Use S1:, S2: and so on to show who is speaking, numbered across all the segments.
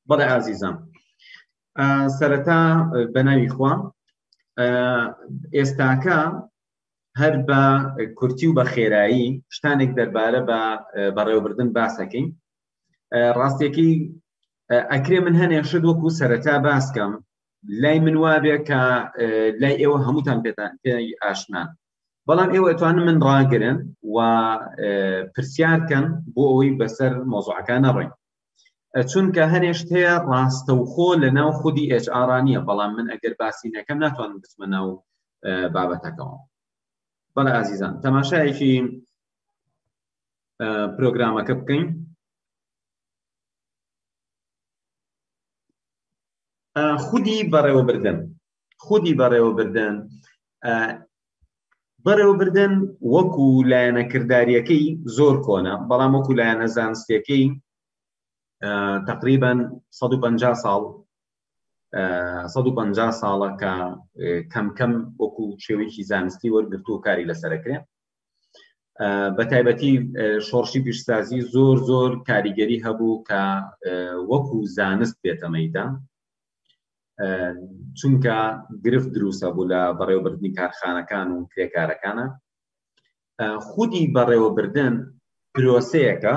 S1: بەڵێ ئازیزان سەرەتا بەناوی خوا ئێستاکە هەر بە کورتی و بە خێرایی شتانێک دەربارە بە بەڕێوەبردن باسەکەین ڕاستێکی ئەکرێ من هەنێ شت وەکو سەرەتا باسکەم لای من وابێ کە لای ئێوە هەمووتان پێتان پێی ئاشنان بەڵام ئێوە ئەتوانن من ڕاگرن و پرسیارکەن بۆ ئەوەی بەسەر مۆزعەکان نەڕێن چونکە هەنێشت هەیە ڕاستەوخۆ لە ناو خودی HR نیە بەڵام من ئەگەر باسی نەکەم ناتوانم بچمە ناو بابەتەکەەوە بەڵێ ئازیزان تەماشایەکی پرۆگرامەکە بکەین خودی بەڕێوەبردن خودی بەڕێوەبردن بەڕێوەبردن وەکو لایەنە کردداریەکەی زۆر کۆنە بەڵام وەکو لایەنە زانستەکەی تقریبان 150 ساڵ 150 ساڵە کە کەمکەم وەکو شێوەیەکی زانستی وەرگرت و کاری لەسەرکرێ بە تایبەتی شۆڕشی پیشسازی زۆر زۆر کاریگەری هەبوو کە وەکو زانست بێتەمەیدا چونکە گرفت دروستە بوو لە بەڕێوەبردنی کارخانەکان و کرێکارەکانە خودی بەڕێوەبردن پرۆسەیەەکە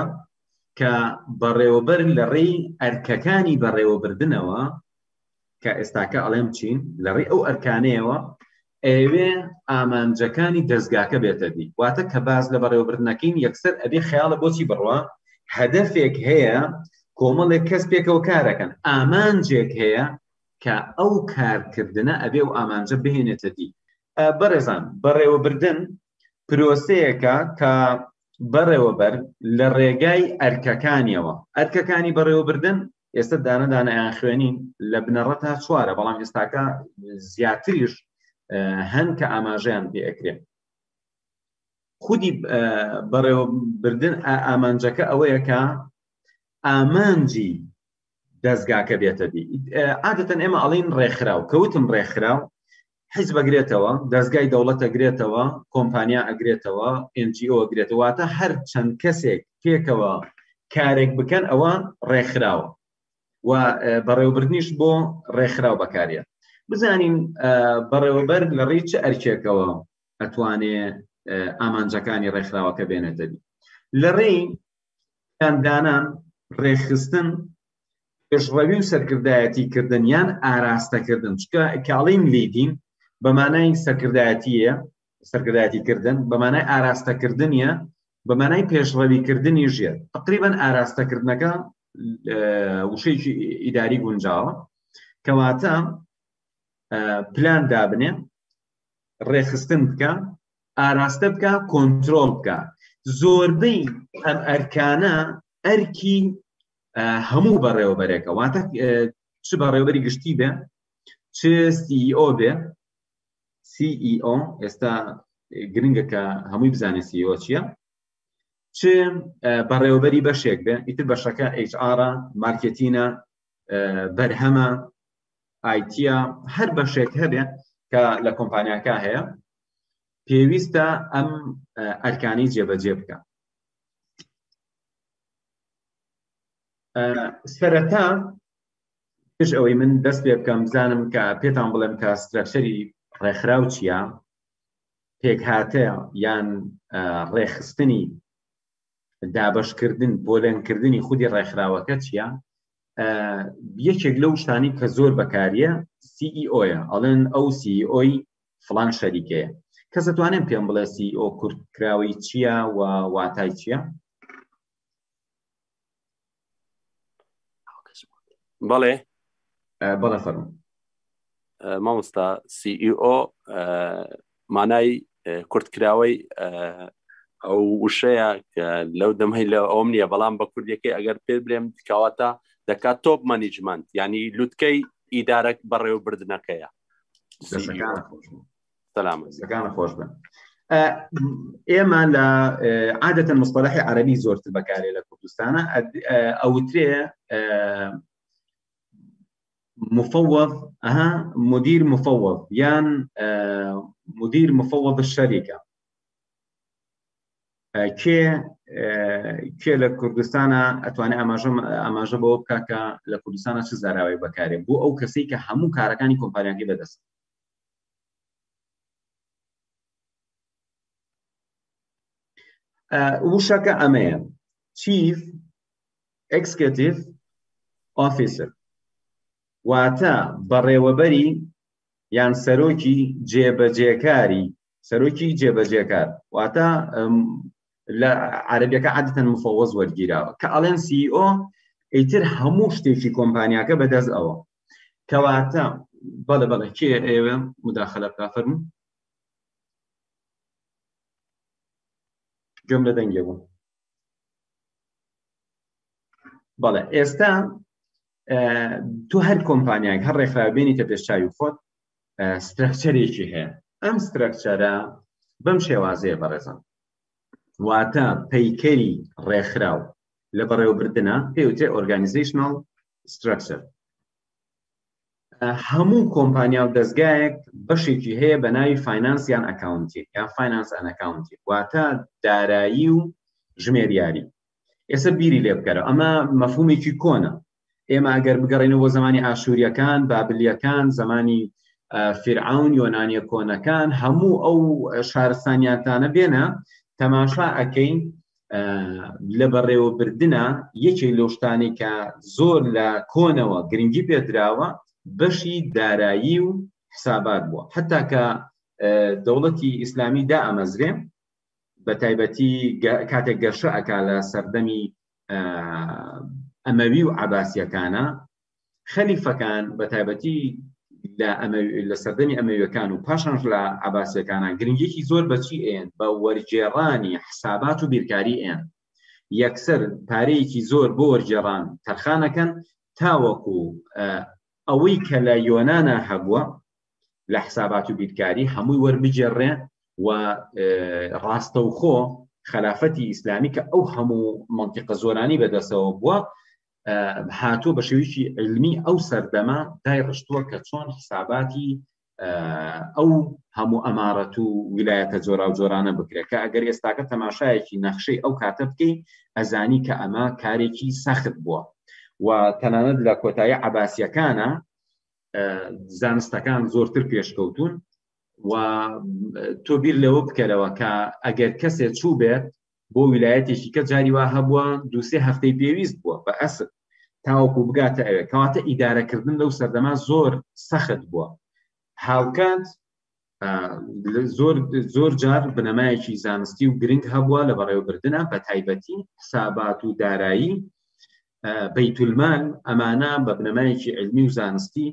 S1: کە بەڕێوەبەر لە ڕێی ئەرکەکانی بەڕێوەبردنەوە کە ئێستاکە ئەڵێم چین لە ڕێ ئەو ئەرکانەیەوە ئەیەوێ ئامانجەکانی دەستگاکە بێتە دی واتە کە باز لە بەڕێوەبردنەکەین یەکسەر ئەبێ خەیاڵە بۆچی بڕە هەدەفێک هەیە کۆمەڵێک کەس پێکەوە کارەکەن ئامانجێک هەیە کە ئەو کارکردنە ئەبێ و ئامانجە بهێنێتە دی بەڕێزان بەڕێوەبردن پرۆسەیەەکە کە بەڕێوەبەر لە ڕێگای ئەرکەکانیەوە ئەرکەکانی بەڕێوەبردن ئێستا دانە دانیان خوێنین لە بنەڕە تا چوارە بەڵام ئێستاکە زیاتریش هەن کە ئاماژەیان پێ ئەکرێن خودی بەڕێوەبردن ئامانجەکە ئەوەیە کە ئامانجی دەستگاکە بێتە دی عادەتەن ئێمە ئەڵین ڕێکخراو کەوتم ڕێکخراو حیز بەگرێتەوە دەستگای دەوڵەت ئەگرێتەوە کۆمپانیا ئەگرێتەوە NGO گرێتەوەتە هەر چەند کەسێک پێکەوە کارێک بکەن ئەوە ڕێکخراوە و بەڕێوەبردنیش بۆ ڕێکخراو بەکارە بزانین بەڕێوەبەر لە ڕی چ ئەرکێکەوە ئەتوانێ ئامانجەکانی ڕێکخراوەکە بێنێتەبی لە ڕێی پلاندانان، ڕێکخستن، پێشڕەوی و سەرکردایەتی کردن یان ئاراستەکردن چکە کاڵین لیدین بەمانای سەرکردایەتیە سەرکردایەتی کردن بەمانای ئاراستەکردنیە بەمانای پێشڕەوی کردنی ژێر تقریبان ئاراستەکردنەکە وشەیەکی ئیداری گونجاوە کەواتە پلان دابنێ ڕێخستن بکە ئاراستە بکە کۆنتترۆل بکە زۆربەی ئەم ئەرکانە ئەرکی هەموو بەڕێوەبەرێکە واتە چ بەڕێوەری گشتی بێ چ CEO بێ CEO ئێستا گرنگە کە هەمووی بزانێ CEO چییە چ بەڕێوەبەری بەشێک بێ ئیتر بەشەکە HR مارکتینە بەرهەمە ئایتە هەر بەشێک هەبێ کە لە کۆمپانیاکە هەیە پێویستە ئەم ئەرکانی جێبەجێ بکە سەرەتا پێش ئەوەی من دەست پێ بکەم بزانم کە پێتان بڵێم کە سترەکشەری ڕێکخراو چییە پێکهاتە یان ڕێخستنی دابشکردن پۆلێنکردنی خودی ڕێکخراوەکە چییە یەکێک لەو شتانی کە زۆر بەکاریە CEOە ئەڵێن ئەو CEO فڵان شەریکەیە کەس دەتوانێت پێم بڵێ CEO کورت کراوەی چییە و واتای چییە
S2: بەڵێ
S1: بەڵێ فەرم
S2: مامۆستا CEO مانای کورتکراوەی ئەو وشەیە لەو دەمەی لە ئەوم نییە بەڵام بە کوردەکەی ئەگەر پێ برێم کاواتە دەکات تۆپ مانیجمنت ینی لوتکەی ئیدارەک بەڕێوەبردنەکەیە
S1: سەلامەکان خۆش بن ئێمە لە عادەتەن مستەلحی عەربی زۆرتر بەکارێ لە کوردستانە ئەوترێ مفوض ئەها مدیر مفوض یان مدیر مفوض شەریکە کێ کێ لە کوردستانە ئەتوانێت ئاماژە ئاماژە بەوە بکە کە لە کوردستانە چ زاراوی بەکارێ بۆ ئەو کەسی کە هەموو کارەکانی کۆمپانیاکەی بەدەست وشەکە ئەمەیە چیف ئەکسکتیف ئۆفیسر واتە بەڕێوەبەری یان سەرۆکی جێبەجێکاری سەرۆکی جێبەجێکار واتە لە عربیەکە عادتەن مفەوەز وەرگیراوە کە ئەڵێن سیO e ئیتر هەموو شتێکی کۆمپانیاکە بەدەست ئەوە کەواتە بەڵێ بەڵێ کێ ئێوە مداخلە بکە فەرمو گوێم لە دەنگێ بوو بەڵێ ئێستا تۆ هەر کۆمپانیایك هەر ڕێکخراوێنی تە پێشچوی خۆت سترەکچەرێکی هەیە ئەم سترەکچەرە بەم شێوازەیە بەڕێزم واتە پەیکەری ڕێکخراو لە بەڕێوەبردنە پێوتێ ئۆرگانیزیشنال سترەکچەر هەموو کۆمپانیا و دەستگایەک بەشێکی هەیە بە ناوی فینانس یان ئەکاونتی یان فینانس ئەنەکاونتی واتە دارایی و ژمێریاری ئێستا بیری لێ بکەرە ئەمە مەفهومێکی کۆنە ئێمە ئەگەر بگەڕێنەوە بۆ زمانی ئاشووریەکان بابلیەکان زمانی فرعون یۆنانیە کۆنەکان هەموو ئەو شارستانیاتانە بێنە تەماشا ئەەکەین لە بەڕێوەبردنە یەکێک لەو شتانی کە زۆر لە کۆنەوە گرنگی پێدراوە بەشی دارایی و حسابات بووە حتا کە دەوڵەتی ئیسلامی دا ئەمەزرێ بە تایبەتی کاتێک گەشە ئەک لە سەردەمی ئەمەوی و عباسیەکانە خەلیفەکان بە تایبەتی لە سەردەمی ئەمەویەکان و پاشانش لە عباسیەکانە گرنگێکی زۆر بەچی ئێن بە وەرجێڕانی حسابات و بیرکاری ئێن یەکسەر پارەیەکی زۆر بۆ وەرجێڕان تەرخانەکەن تاوەکو ئەوەی کە لە یۆنانا هەبووە لە حسابات و بیرکاری هەمووی وەربگێڕێ و ڕاستەوخۆ خلافەتی ئیسلامی کە ئەو هەموو منتیقە زۆرانی بەدەسەوە بووە هاتۆ بە شێویی علمی ئەو سەردەمە دای ڕشتووە کە چۆن حساباتی ئەو هەموو ئەمارەت و ویلایەتە جۆرا و جۆرانە بکرێت کە ئەگەر ئێستاکە تەماشایەکی نەخشەی ئەو کاتە بکەین ئەزانی کە ئەمە کارێکی سەخت بووە و تەنانەت لە کۆتایی عباسیەکانە زانستەکان زۆرتر پێشکەوتون و تۆ بیر لەوە بکەرەوە کە ئەگەر کەسێ چوو بێت بۆ ویلایەتێکی کە جاری وا هەبووە دوسێ هەفتەی پێویست بووە بە ئەسب تاوەکو بگاتە ئەوێ کەواتە ئیدارەکردن لەو سەردەما زۆر سەخت بووە هاوکات زۆر زۆر جار بنەمایەکی زانستی و گرنگ هەبووە لە بەڕێوەبردنە بە تایبەتی حسابات و دارایی بەیتولمان ئەمانە بە بنەمایەکی علمی و زانستی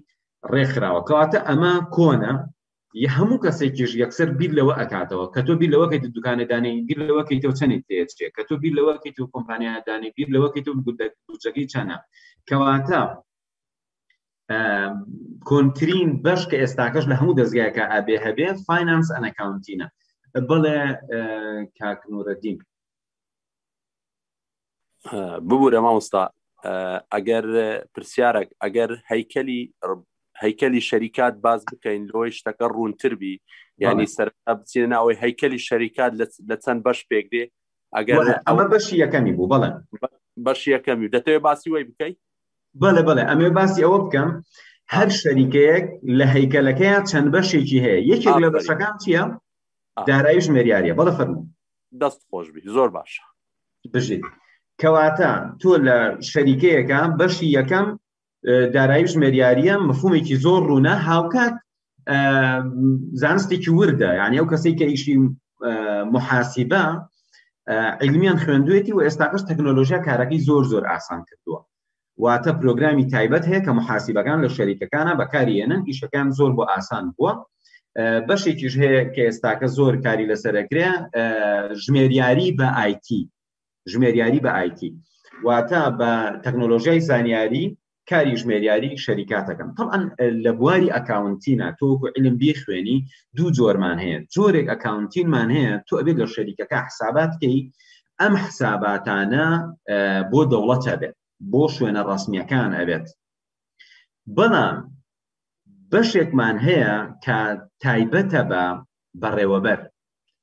S1: ڕێکخراوە کەواتە ئەمە کۆنە یە هەموو کەسێکیش یەکسەر بیر لەوە ئەکاتەوە کە تۆ بیر لەوەکەی دوکانەدانی بیر لەوەکەی تۆ چەنی تێچێ کە تۆ بیر لەوەکەی تۆ کۆمپانیادانی بیر لەوەکەی تۆ گوتەکەی چەنە کەواتە کۆنترین بەش کە ئێستاکەش لە هەموو دەستگایەکە ئابێ هەبێ فینانس ئەنەکاونتینە بڵێ کاکنورەدین
S2: ببوورە مامۆستا ئەگەر پرسیارێک ئەگەر هەیکەلی هەیکەلی شەریکات باز بکەین لۆی شتەکە ڕوونتر بی ینی سەر بچینە ناوەی هەیکەلی شەریکات لە چەند بەش پێک دێ ئەگەر ئەمە بەشی
S1: یەکەمی بوو بەڵێ بەشی یەکەمی
S2: دەتەوێت باسی وای بکەیت بەڵێ بەڵێ ئەمێ
S1: باسی ئەوە بکەم هەر شەریکەیەک لە هەیکەلەکەیان چەند بەشێکی هەیە یەکێک لە بەشەکان چییە دارایش مێریاریە بەڵە فەرمو دەست خۆشبی
S2: زۆر باشە بژیت
S1: کەواتە تۆ لە شەریکەیەەکە بەشی یەکەم دارایی ژمێریاریە مفهومێکی زۆر ڕوونە هاوکات زانستێکی وردە یعنی ئەو کەسی کە ئیشی محاسیبە علمیان خوێندوێتی و ئێستاقش تەکنۆلۆژیا کارەکەی زۆر زۆر ئاسان کردووە واتە پرۆگرامی تایبەت هەیە کە محاسیبەکان لە شەریکەکانە بەکارێنن ئیشەکان زۆر بۆ ئاسان بووە بەشێکیش هەیە کە ئێستاکە زۆر کاری لەسەرکرێ ژمێریاری بە آیتی ژمێریاری بە آیتی واتە بە تەکنۆلۆژیای زانیاری کاری ژمێریاری شەریکاتەکەم طبعا لە بواری ئەکاونتینا تۆکو علم بیخوێنی دوو جۆرمان هەیە جۆرێک ئەکاونتینمان هەیە تۆ ئەبێت لە شەریکەکە حسابات کەی ئەم حساباتانە بۆ دەوڵەتە بێت بۆ شوێنە ڕسمیەکان ئەبێت بەڵام بەشێکمان هەیە کە تایبەتە بە بەڕێوەبەر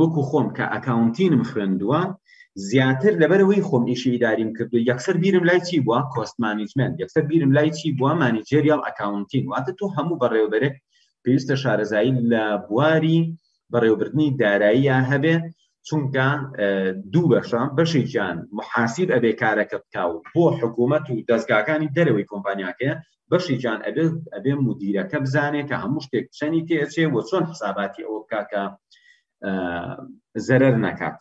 S1: وەکو خۆم کە ئەکاونتینم خوێندووە زیاتر لەبەرەوەی خۆم ئیشی ئیداریم کردو یەکسەر بیرم لای چی بووە کۆست مانیجمنت یەکسەر بیرم لای چی بووە مانیجێریال ئەکاونتین واتە تۆ هەموو بەڕێوەبەرێک پێویستە شارەزایی لە بواری بەڕێوەبردنی داراییە هەبێ چونکە دوو بەشە بەشێکیان محاسیب ئەبێ کارەکە بکاو بۆ حکوومەت و دەستگاکانی دەرەوەی کۆمپانیاکەیە بەشی جان ئەبێت ئەبێ مدیرەکە بزانێت کە هەموو شتێک چەنی تێچێ و چۆن حساباتی ئەوە بکات کە زەرەر نەکات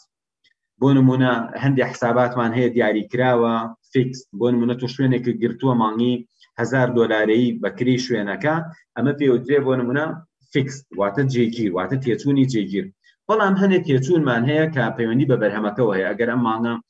S1: بۆ نمونە هەندێک حساباتمان هەیە دیاری کراوە فیکس بۆ نمونە تو شوێنێکی گرتووە مانگی هزار دۆلارەی بەکری شوێنەکە ئەمە پێوترێ بۆ نمونە فیکس واتە جێگیر واتە تێچوونی جێگیر بەڵام هەنێک تێچوونمان هەیە کە پەیوەندی بە بەرهەمەکەەوە هەیە ئەگەر ئەم مانگە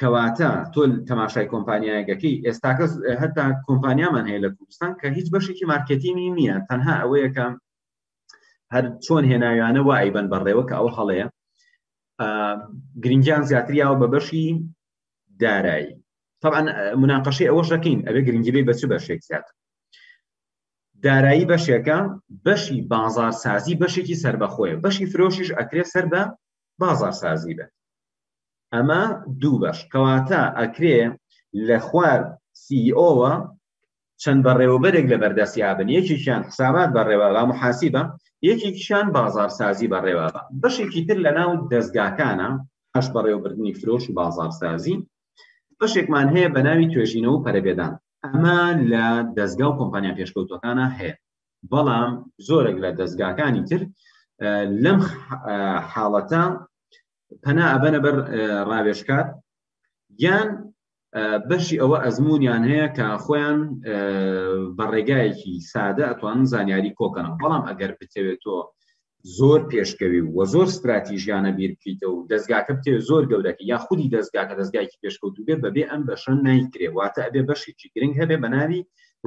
S1: کەواتە تۆ تەماشای کۆمپانیایەکەکەی ئێستاکە هەتا کۆمپانیامان هەیە لە کوردستان کە هیچ بەشێکی مارکتینی نییە تەنها ئەوەیەکە هەر چۆن هێناویانە وای بن بەڕێوە کە ئەو هەڵەیە گرنگیان زیاتریاوە بە بەشی دارایی طبعا مناقەشی ئەوە شەکەین ئەبێ گرنگیبی بەچ بەشێک زیات دارایی بەشێکە بەشی بازارسازی بەشێکی سربەخۆیە بەشی فرۆشیش ئەکرێ سەر بە بازارسازی بێت ئەمە دوو بەش کەواتە ئەکرێ لە خوار CEO وە چەند بەڕێوەبەرێک لە بەردەستیا بن یەکێکیان حسابات بەڕێوە با محاسیبە یەکێکیان بازارسازی بەڕێوە بە بەشێکی تر لە ناو دەستگاکانە ئەش بەڕێوەبردنی فرۆش و بازارسازی بەشێکمان هەیە بە ناوی توێژینەوە و پەرەبێدان ئەمە لە دەستگا و کۆمپانیا پێشکەوتەکانە هەیە بەڵام زۆرێک لە دەستگاکانی تر لەم حاڵەتە پەنا ئەبەنە بەر ڕاوێشکات یان بەشی ئەوە ئەزمونیان هەیە کە خۆیان بە ڕێگایەکی سادە ئەتوانن زانیاری کۆکەنەوە بەڵام ئەگەر بتەوێت تۆ زۆر پێشکەوی و زۆر ستراتیژیانە بیر بکەیتەوە و دەستگاکە بتێ زۆر گەورەکە یا خودی دەستگاکە دەستگایکی پێشکەوتو بێ بەبێ ئەم بەشە نایکرێ واتە ئەبێ بەشێکی گرنگ هەبێ بە ناوی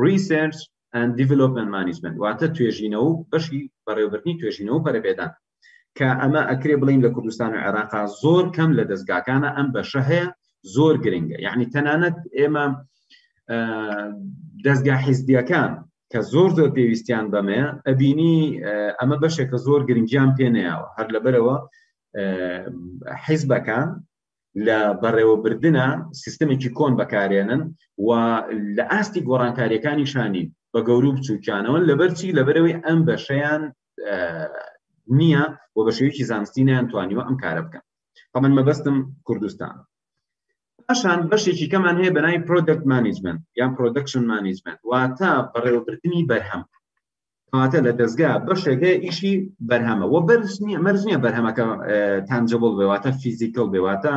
S1: ریسرچ دیڤلوپمنت مانیجمنت واتە توێژینەوە بەشی بەڕێوبردنی توێژینەوە پەرەپێدان کە ئەمە ئەکرێ بڵین لە کوردستان و عێراقا زۆر کەم لە دەستگاکانە ئەم بەشە هەیە زۆر گرنگە یعنی تەنانەت ئێمە دەستگا حیزبیەکان کە زۆر زۆر پێویستیان بەمەیە ئەبینی ئەمە بەشێک کە زۆر گرنگیان پێنەیەوە هەر لەبەرەوە حیزبەکان لە بەڕێوەبردنە سیستمێکی کۆن بەکارێنن و لە ئاستی گۆڕانکاریەکانی شانین بە گەورو بچووکیانەوە لەبەرچی لەبەرەوەی ئەم بەشیان نییە و بە شێوکی زانستی نیانتوانیوە ئەم کارە بکەن بەمن مەبەستم کوردستان پاشان بەشێکی کەمان هەیە بەناوی پرۆدکت مانیجمنت یان پرۆدکشن مانیجمنت واتە بەڕێوەبردننی بەرهەم کاتە لە دەستگا بەشێکە ئیشی بەرهەمە و بەرز نیە مەرز نیە بەرهەمەکە تانجبڵ بێواتە فیزیکل بێواتە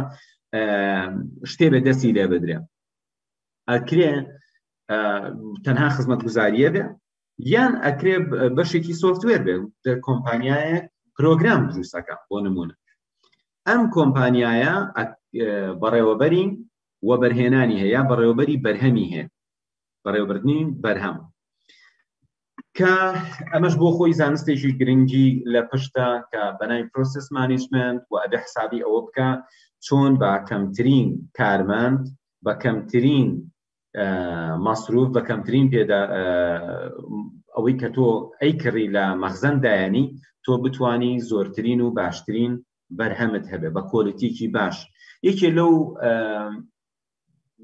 S1: شتێ بە دەستی لێ بدرێ ئەکرێ تەنها خزمەت گوزاریە بێ یان ئەکرێ بەشێکی سۆفتوێر بێ کۆمپانیایە پرۆگرام دروستەکە بۆ نمونە ئەم کۆمپانیایە بەڕێوەبەرین و بەرهێنانی هەیە بەڕێوەبەری بەرهەمی هەیە بەڕێوەبردنی بەرهەم کە ئەمەش بۆ خۆی زانستێکی گرنگی لە پشتە کە بەناوی پرۆسس مانیجمنت و ئەبێ حسابی ئەوە بکە چۆن بە کەمترین کارمەند بە کەمترین مەسروف بە کەمترین پێدا ئەوەی کە تۆ ئەی کڕی لە مەخزەن دایانی تۆ بتانی زۆرترین و باشترین بەرهەمت هەبێ بە کۆلیتیکی باش یەکێ لەو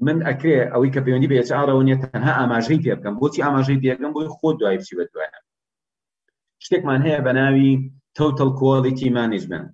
S1: من ئەکرێ ئەوەی کە پەیوەندی بە ئێچارەوە نیە تەنها ئاماژەی پێ بکەم بۆچی ئاماژەی پێەکەم بۆی خۆ دوای بچی بە دوایە شتێکمان هەیە بە ناوی تۆتەل کۆلیتی مانیجمنت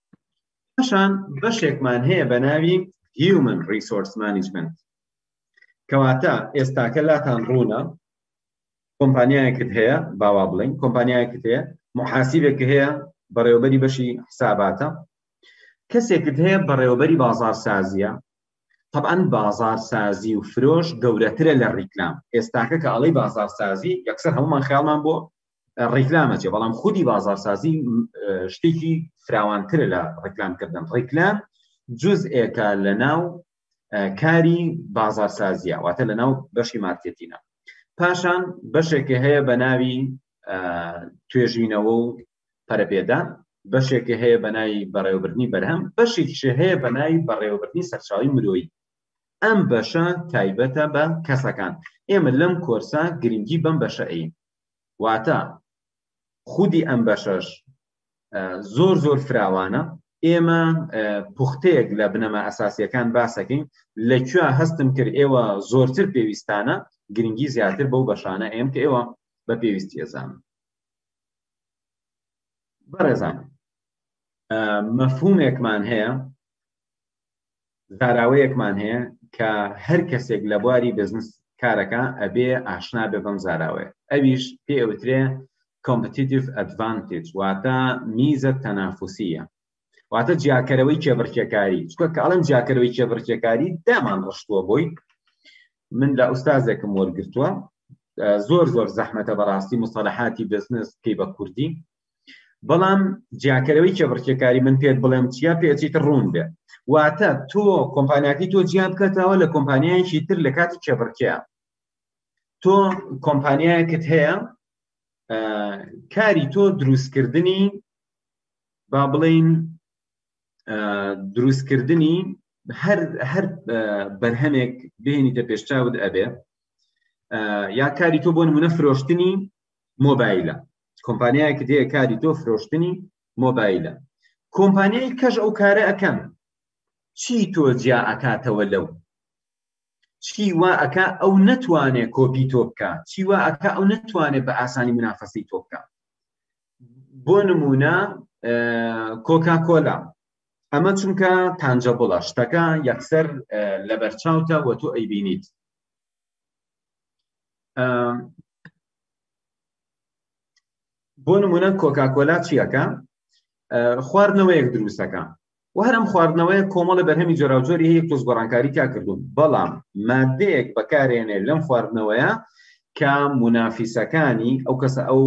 S1: پاشان بەشێکمان هەیە بە ناوی هیومن ریسۆرس مانیجمنت کەواتە ئێستاکە لاتان ڕوونە کۆمپانیایەکت هەیە باوا بڵین کۆمپانیایەکت هەیە محاسیبێک هەیە بەڕێوبەری بەشی حساباتە کەسێکت هەیە بەڕێوبەری بازار سازیە طبعا بازار سازی و فرۆش گەورەترە لە ڕیکلام ئێستاکە کە ئەڵی بازار سازی یەکسەر هەمومان خیاڵمان بۆ ڕیکلامە جێ بەڵام خودی بازارسازی شتێکی فراوانترە لە ڕیکلامکردن ڕیکلام جزئێکە لە ناو کاری بازارسازیە واتە لە ناو بەشی مارکتینە پاشان بەشێکی هەیە بە ناوی توێژینەوە و پەرەپێدا بەشێکی هەیە بە ناوی بەڕێوەبرنی بەرهەم بەشێکیش هەیە بە ناوی بەڕێوەبرنی سەرچاوی مرۆیی ئەم بەشە تایبەتە بە کەسەکان ئێمە لەم کۆرسە گرنگی بەم بەشە ئەین واتە خودی ئەم بەشەش زۆر زۆر فراوانە ئێمە پوختەیەک لە بنەما ئەساسیەکان باسەکەین لە کوێ هەستم کرد ئێوە زۆرتر پێویستانە گرنگی زیاتر بەو بەشانە ئێم کە ئێوە بە پێویستی ئەزان بەڕێزان مەفهومێکمان هەیە زاراوەیەکمان هەیە کە هەر کەسێک لە بواری بزنس کارەکە ئەبێ ئاشنا بێ بەم زاراوەیە ئەویش پێ ئەوترێ کۆمپتیتیف ئەدڤانتیج واتە میزە تەنافوسیە واتە جیاکەرەوەی کێبڕکێکاری چکە کە ئەڵم جیاکەرەوەی کێبڕکێکاری دامان ڕشتووە بۆی من لە ئوستازێکم وەرگتووە زۆر زۆر زەحمەتە بەڕاستی مستەلحاتی بزنس پێی بە کوردی بەڵام جیاکەرەوەی کێبڕکێکاری من پێت بڵێم چیا پێچیت ڕوون بێ واتە تۆ کۆمپانیاتی تۆ جیا بکەتەوە لە کۆمپانیایکی تر لە کاتی کێبڕکەیە تۆ کۆمپانیایەکت هەیە کاری تۆ دروستکردنی با بڵین دروستکردنی هەر هەر بەرهەمێک بێنیتە پێشچاوت ئەبێ یا کاری تۆ بۆ نمونە فرۆشتنی مۆبایلە کۆمپانیایەکە دێ کاری تۆ فرۆشتنی مۆبایلە کۆمپانیای کەش ئەو کارە ئەەکەن چی تۆ جیا ئەکاتەوە لەو چی وا ئەک ئەو نەتوانێت کۆپی تۆ بکە چی وا ئەک ئەو نەتوانێت بە ئاسانی منافەسی تۆ بکە بۆ نمونە کۆکا کۆلا ئەمە چونکە تانجە بڵە شتەکە یەکسەر لە بەرچاوتە وە تۆ ئەیبینیت بۆ نمونە کۆکاکۆلا چیەکە خواردنەوەیەک دروستەکە و هەرم خواردنەوەیە کۆمەڵە بەرهەمی جۆراوجۆری هەیە تۆز گۆڕانکاری کا کردوون بەڵام مادەیەک بەکارێنێ لەم خواردنەوەیە کە منافیسەکانی ئەو کەسە ئەو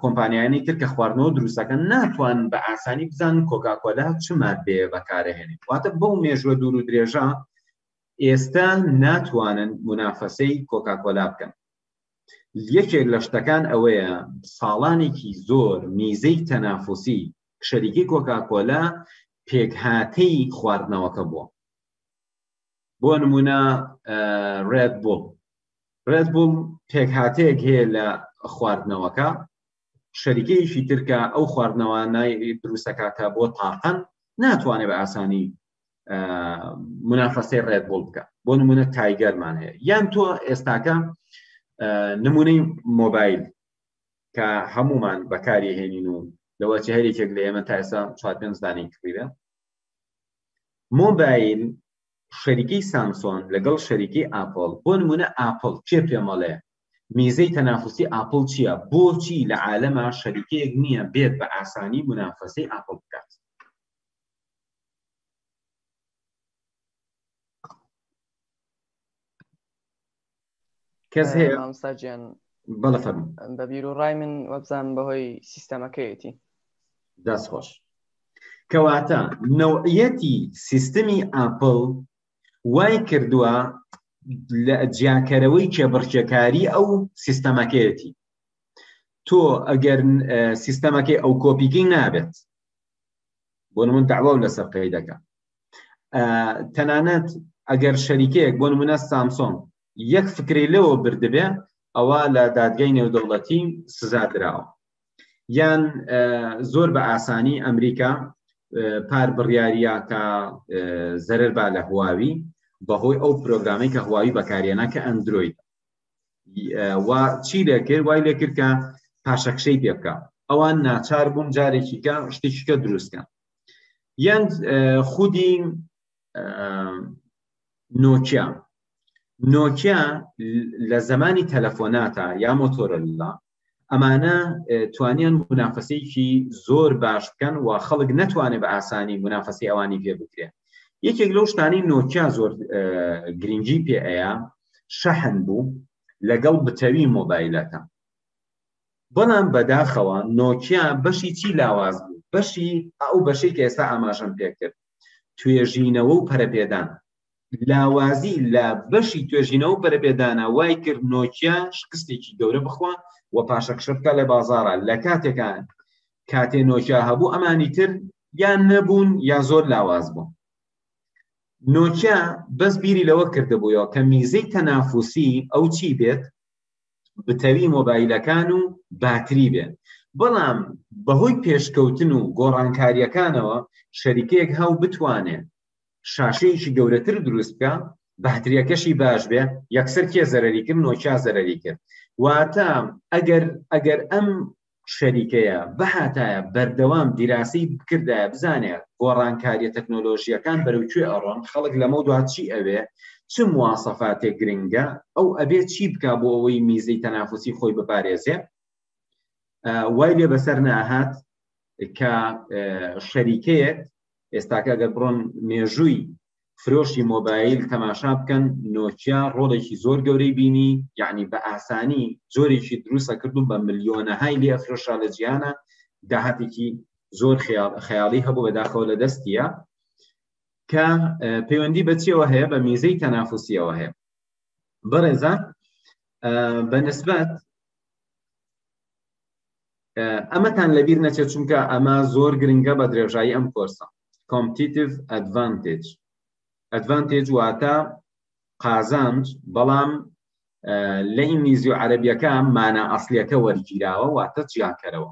S1: کۆمپانیانی تر کە خواردنەوە دروستەکەن ناتوان بە ئاسانی بزان کۆکاکۆلا چ مادەیە بەکارهێنێت واتە بەو مێژوە دوور و درێژە ئێستا ناتوانن منافەسەی کۆکاکۆلا بکەن یەکێک لە شتەکان ئەوەیە ساڵانێکی زۆر میزەی تەنافسی شەریکی کۆکاکۆلا پێکهاتەی خواردنەوەکە بووە بۆ نمونە ڕێد بوڵ ڕێد بوڵ پێکهاتەیەک هەیە لە خواردنەوەکە شەریکەیەکی ترکە ئەو خواردنەوانای دروستەکاتە بۆ تاقن ناتوانێت بە ئاسانی منافەسەی ڕێدبوڵ بکە بۆ نمونە تایگەرمان هەیە یان تۆ ئێستاکە نمونەی مۆبایل کە هەمومان بەکاری هێنین و لەوە چ هەرێکێک لە ئێمە تا ئێستا چوار پێنج دانی کڕیرە مۆبایل شەریکی سامسۆن لەگەڵ شەریکی ئاپل بۆ نمونە ئاپل چێ پێمەڵێ میزەی تەنافسی ئاپل چییە بۆچی لە عالەما شەریکەیەک نییە بێت بە ئاسانی منافەسەی ئاپل بکات کەس هەیە مامساجیان
S3: بەڵە فەرم
S1: بە بیر و ڕای من
S3: وەبزان بەهۆی سیستەمەکەیەتی دەست
S1: خۆش کەواتە نەوعەتی سیستمی ئاپل وای کردووە لە جیاکەرەوەی کێبڕکێکاری ئەو سیستەمەکەیەتی تۆ ئەگەر سیستەمەکەی ئەو کۆپیکەی نابێت بۆ نمون داوا و لەسەر قەی دەکە تەنانەت ئەگەر شەریکەیەک بۆ نمونە سامسۆن یەک فکری لەوە بردبێ ئەوە لە دادگای نێودەوڵەتی سزا دراوە یان زۆر بە ئاسانی ئەمریکا پار بڕیاریە کە زەرەر با لە هواوی بەهۆی ئەو پرۆگرامی کە هواوی بەکارێنە کە ئەندروید و چی لێکرد وای لێکرد کە پاشەکشەی پێ بکە ئەوان ناچار بوون جارێکیکە شتێکیکە دروستکە یان خودی نۆکیا نۆکیا لە زمانی تەلەفۆناتە یا مۆتۆرەلا ئەمانە توانیان منافەسێکی زۆر باش بکەن و خەڵک نەتوانێت بە ئاسانی منافەسی ئەوانی پێ بکرێن یەکێک لەو شتانی نۆکیا زۆر گرنگی پێ ئەیە شەحن بوو لەگەڵ بتەوی مۆبایلەکە بەڵام بەداخەوە نۆکیا بەشی چی لاواز بوو بەشی ئەو بەشی کە ئێستا ئاماژەم پێکرد توێژینەوە و پەرەپێدان لاوازی لە بەشی توێژینەوە پەرەپێدانە وای کرد نۆکیا شکستێکی گەورە بخوا و پاشەکشە بکە لە بازارە لە کاتێکان کاتێ نۆکیا هەبوو ئەمانی تر یان نەبوون یا زۆر لاواز بوون نۆکیا بەس بیری لەوە کردبووەوە کە میزەی تەنافوسی ئەو چی بێت بتەوی مۆبایلەکان و باتری بێت بەڵام بەهۆی پێشکەوتن و گۆڕانکاریەکانەوە شەریکەیەک هاو بتوانێت شاشەیەکی گەورەتر دروست بکە باتریەکەشی باش بێ یەکسەر کێ زەرری کرد نۆکیا زەرری کرد واتە ئەگەر ئەگەر ئەم شەریکەیە بەهاتایە بەردەوام دیراسی بکردە بزانێ گۆڕانکاریە تەکنۆلۆژیەکان بەرەو کوێ ئەڕۆن خەڵک لەمە دواتچی ئەوێ چ موواسەفاتێک گرنگە ئەو ئەبێ چی بک بۆ ئەوەی میزەی تەنافسی خۆی بپارێزێ وای لێ بەسەر ناهات کە شەریکەیەک ئێستاکە گەر بڕۆن مێژووی فرۆشی مۆبایل تەماشا بکەن نۆچیا ڕۆڵێکی زۆر گەورەی بینی یعنی بە ئاسانی جۆرێکی دروستە کردو بە ملیۆنەهای لێ فرۆشا لە جیانە داهاتێکی زۆر خەیاڵی هەبوو بەداخەوە لە دەستیە کە پەیوەندی بەچیەوە هەیە بە میزەی تەنافوسیەوە هەیە بەڕێزە بەنسبەت ئەمەتان لەبیر نەچێت چونکە ئەمە زۆر گرنگە بە درێژایی ئەم کۆرسە کۆمپتیتیڤ ئەدڤانتج ئەدڤانتج واتە قازانج بەڵام لە ئینگلیزی و عەربیەکە مانا ئەسلیەکە وەرگیراوە واتە جیاکەرەوە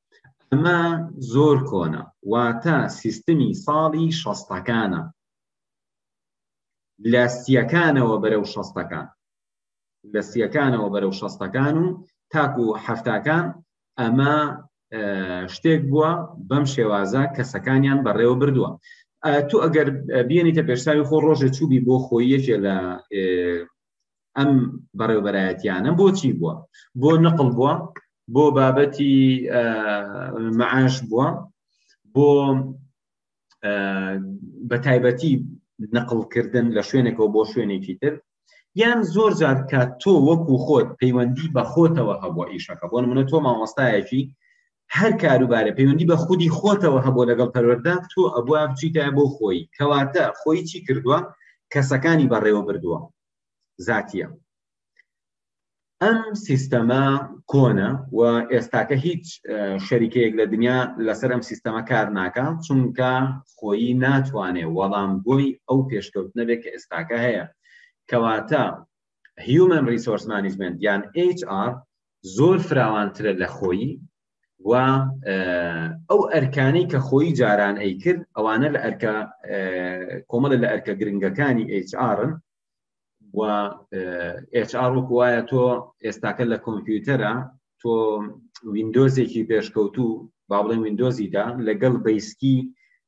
S1: ئەمە زۆر کۆنە واتە سیستمی ساڵی شەستەکانە لە سیەکانەوە بەرەو شەستەکان لە سیەکانەوە بەرەو شەستەکان و تاکو هەفتاکان ئەمە شتێک بووە بەم شێوازە کەسەکانیان بەڕێوە بردووە تو ئەگەر بینیتە پێشساوی خۆ ڕۆژە چوبی بۆ خۆیەکێ لە ئەم بەڕێوبەرایەتیانە بۆچی بووە بۆ نقل بووە بۆ بابەتی معاش بووە بۆ بە تایبەتی نقلکردن لە شوێنێکەوە بۆ شوێنێکی تر یان زۆر جار کات تۆ وەکو خۆت پەیوەندی بە خۆتەوە هەبووە ئیشەکە بۆ منە تۆ مامۆستایەکی هەر کاروبارە پەیوەندی بە خودی خۆتەوە هەبوو لەگەڵ پەروەەردە تۆ ئەبووە بچیتە بۆ خۆی کەواتە خۆی چی کردووە کەسەکانی بەڕێوە بردووە زاتیە ئەم سیستەمە کۆنە و ئێستاکە هیچ شەریکەیەک لە دنیا لەسەر ئەم سیستەمە کار ناکە چونکە خۆیی ناتوانێ وەڵام بۆی ئەو پێشکەوت نەبێت کە ئێستاکە هەیە کەواتە هیومن ریسۆرس مانیجمنت یان HR زۆر فراوانترە لە خۆیی و ئەو ئەرکانەی کە خۆی جاران ئەی کرد ئەوانە لە ئەرکە کۆمەڵە لە ئەرکە گرنگەکانی HRن و HR وایە تۆ ئێستاکە لە کۆمپیوتەرە تۆ وینندۆزێکی پێشکەوتوو با بڵێ وینندۆزیدا لەگەڵ بەیسکی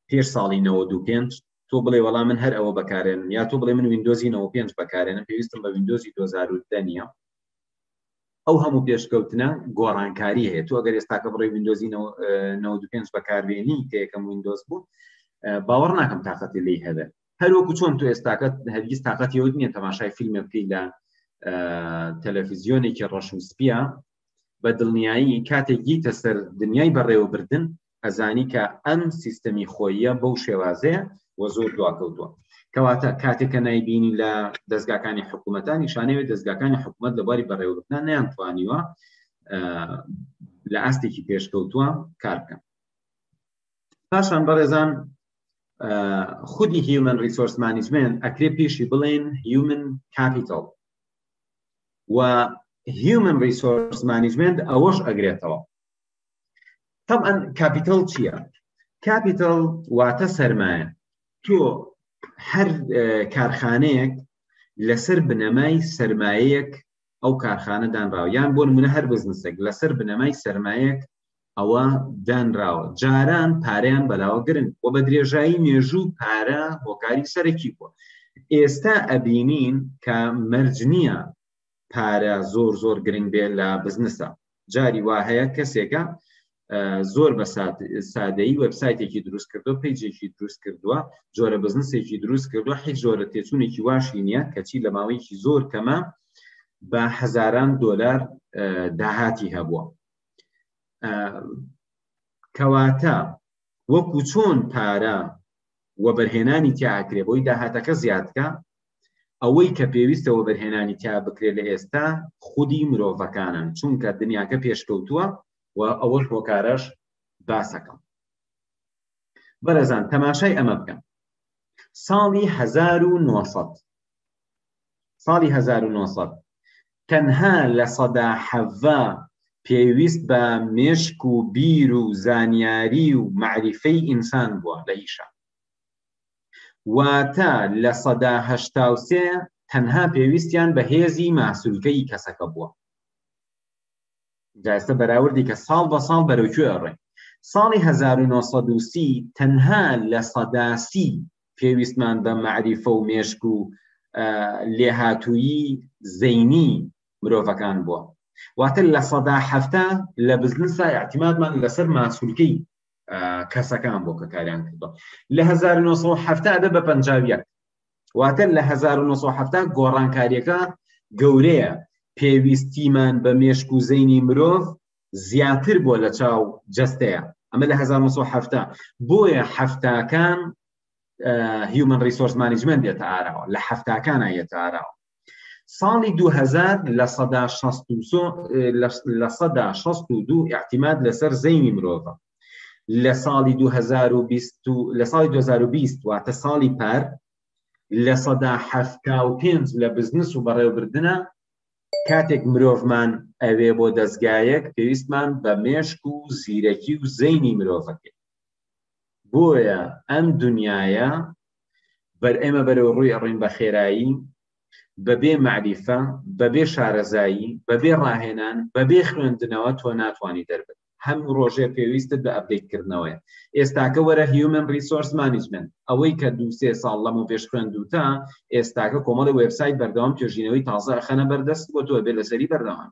S1: پێش ساڵی 95 تۆ بڵێ وەڵا من هەر ئەوە بەکارێنم یا تۆ بڵێ من وینندۆزی 95 بەکارێنم پێویستم بە وینندۆزی 2010 نیە ئەو هەموو پێشکەوتنە گۆڕانکاری هەیە تو ئەگەر ئێستاکە بڕێ وینندۆزی 95 بەکارێنی کە یەکەم وینندۆز بوو باوەڕ ناکەم تااقەتی لی هەبێ هەروەکو چۆن تو ئێستاکە هەرگیز تااقەتیەوە نیە تەماشای فیلمە بکەیت لە تەلەفیزیۆنێکی ڕەشم سپیە بە دڵنیایی کاتێک گیتە سەر دنیای بەڕێوەبردن ئەزانی کە ئەم سیستەمی خۆیە بەو شێوازەیە و زۆر دواکەوتووە کەواتە کاتێکە نایبینی لە دەستگاکانی حکوومەتان نیشانەوەی دەستگاکانی حکوومەت لە باری بەڕێوەبردان نیان توانیوە لە ئاستێکی پێشکەوتووە کار بکەن پاشان بەڕێزان خودی هیومن ریسۆرس مانیجمنت ئەکرێ پێشی بڵێن هیومن کاپیتال و هیومن ریسۆرس مانیجمنت ئەوەش ئەگرێتەوە طبعا کاپیتال چییە کاپیتال واتە سەرمایە تۆ هەر کارخانەیەک لەسەر بنەمای سرمایەک ئەو کارخانە دانراوە یان بۆ منە هەر بزنسێک لەسەر بنەمای سرمایەک ئەوە دانراوە جاران پاریان بەلاوە گرن و بە درێژایی مێژوو پارە هۆکاری سەرەکی بووە ئێستا ئەبینین کە مەرج نییە پارە زۆر زۆر گرنگ بێت لە بزنسە جاری وا هەیە کەسێکە زۆر بە سادەی وبسایتێکی دروست کردو پیجێکی دروست کردووە جۆرە بزنسێکی دروست کردو حی زۆرە تێچوونێکی واشی نییە کەچی لە ماوەیەکی زۆر کەمە بە هەزاران دۆلار داهاتی هەبووە کەواتە وەکو چۆن پارە وەبەرهێنانی تیاکرێ بۆی داهاتەکە زیادکە ئەوەی کە پێویستە وەبەرهێنانی تیا بکرێت لە ئێستا خودی مرۆڤەکانن چونکە دنیاکە پێشکەوتووە و ئەوەش هۆکارەش باسەکەم بەرەزان تەماشای ئەمە بکەم ساڵی 1970 ساڵی 1970 تەنها لە سەدا حەڤا پێویست بە مێشک و بیر و زانیاری و معریفەی ئینسان بووە لە ئیشە واتە لە سەدا هەشتا و سێ تەنها پێویستیان بە هێزی ماسولکەی کەسەکە بووە جاستە بەراوردی کە ساڵ بە ساڵ بەرەوکوێ ئەڕێ ساڵی 1930 تەنها لە سەداسی پێویستمان بە معریفە و مێشک و لێهاتوویی زەینی مرۆڤەکان بووە واتە لە سەدا هەفتا لە بزنسا اعتیمادمان لەسەر ماسولکەی کەسەکان بۆ کەکاریان کردو لە 1970 دە بە پەنجاویەک واتە لە 1970 گۆڕانکاریەکە گەورەیە پێویستیمان بە مێشک و زەینی مرۆڤ زیاتر بۆ لە چاو جستەیە ئەمە لە 1970 بۆیە هەفتاکان هیومن ریسۆرس مانیجمنت دێتە ئاراوە لە هەفتاکانە یەتە ئاراوە ساڵی 2000 لە سەدا لە سەدا 62 احتیماد لەسەر زەینی مرۆڤە لە ساڵی 2020 لە ساڵی 2020 واتە ساڵی پار لە سەدا حەفتا و پێنج لە بزنس و بەڕێوبردنە کاتێک مرۆڤمان ئەوێ بۆ دەستگایەک پێویستمان بە مێشک و زیرەکی و زەینی مرۆڤەکەی بۆیە ئەم دنیاە بەر ئێمە بەرەو ڕووی ئەڕۆین بە خێرایی بەبێ مەعریفە بەبێ شارەزایی بەبێ ڕاهێنان بەبێ خوێندنەوە تۆ ناتوانانی دەربن هەم ڕۆژێ پێویستت بە ئەبدەیتکردنەوەی ئێستاکە وەرە هیومن ریسۆرس مانیجمنت ئەوەی کە دو سێ ساڵ لەمە پێش خوێندوتە ئێستاکە کۆمەڵی وبسایت بەردەوام توێژینەوەی تازە خەنە بەردەست بۆ تۆ بێ لەسەری بەردەوام